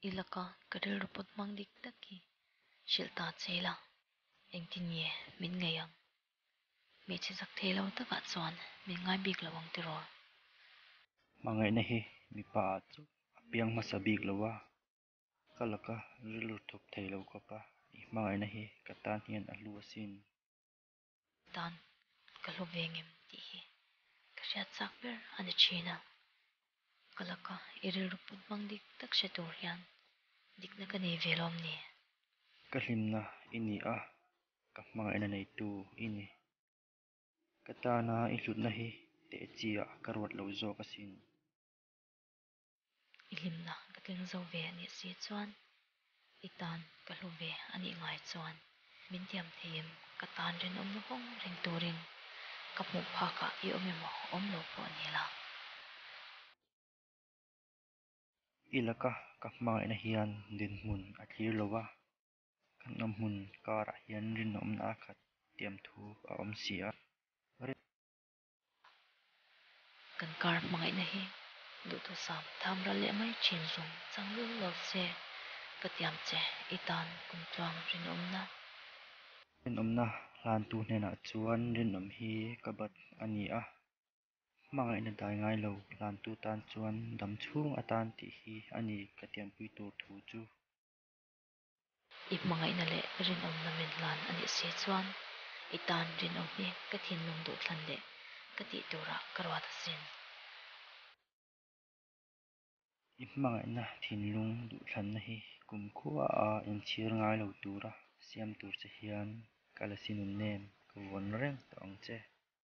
I laka ka rilru pawt hmang dik tak hi hrilh ta che la, engtin nge min ngaih ang? Hmeichhe zak thei lo takah chuan min ngai bik lo ang tiraw? Hmangaihna hi mipa ah chu a piang hmasa bik lo a, ka laka rilru thawk thei lo khawp a, i hmangaihna hi ka tan hian a hlu asin. dan ka hlu ve ngem tih hi ka hriat chak ber a ni thin a, ka laka i rilru put hmang dik tak hre tur hian dikna ka nei ve lawm ni? Ka hlimna i ni a, ka hmangaih na neitu i ni. Ka tana i hlutna hi tehchiah ka ruat lo zawk asin. i hlimna ka tling zo ve a nih si chuan i tan ka hlu ve a nih ngai chuan min tiam thei em? Ka tan rinawm luhawng ring turin ka hmuh phakah i awm emaw? Awm lo pawh a ni la. I laka ka hmangaihna hian dinhmun a thlir lo a, kan awm hmun karah hian rinawmna a khat tiam thu a awm si a. Ring. Kan kar hmangaihna hi duhthawh sam tham ral leh mai thin zung chang viau lo se ka tiam che i tan kum tluang rinawmna. Rinawmna hlantu hnenah chuan rinawm hi ka bat a ni a, hmangaihna dai ngai lo hlantu tan chuan dam chhung atan tih hi a ni ka tiampui tur thu chu. I hmangaihna leh rinawmna men hlan a nih si chuan i tan rinawm hi ka thinlung duh thlan leh ka tih tura ka ruat a sin. I hmangaihna thinlung duh thlanna hi kum khua a inchhir ngai lo tura siam tur che hian ka la si nunnem ka vuan reng tawh ang che.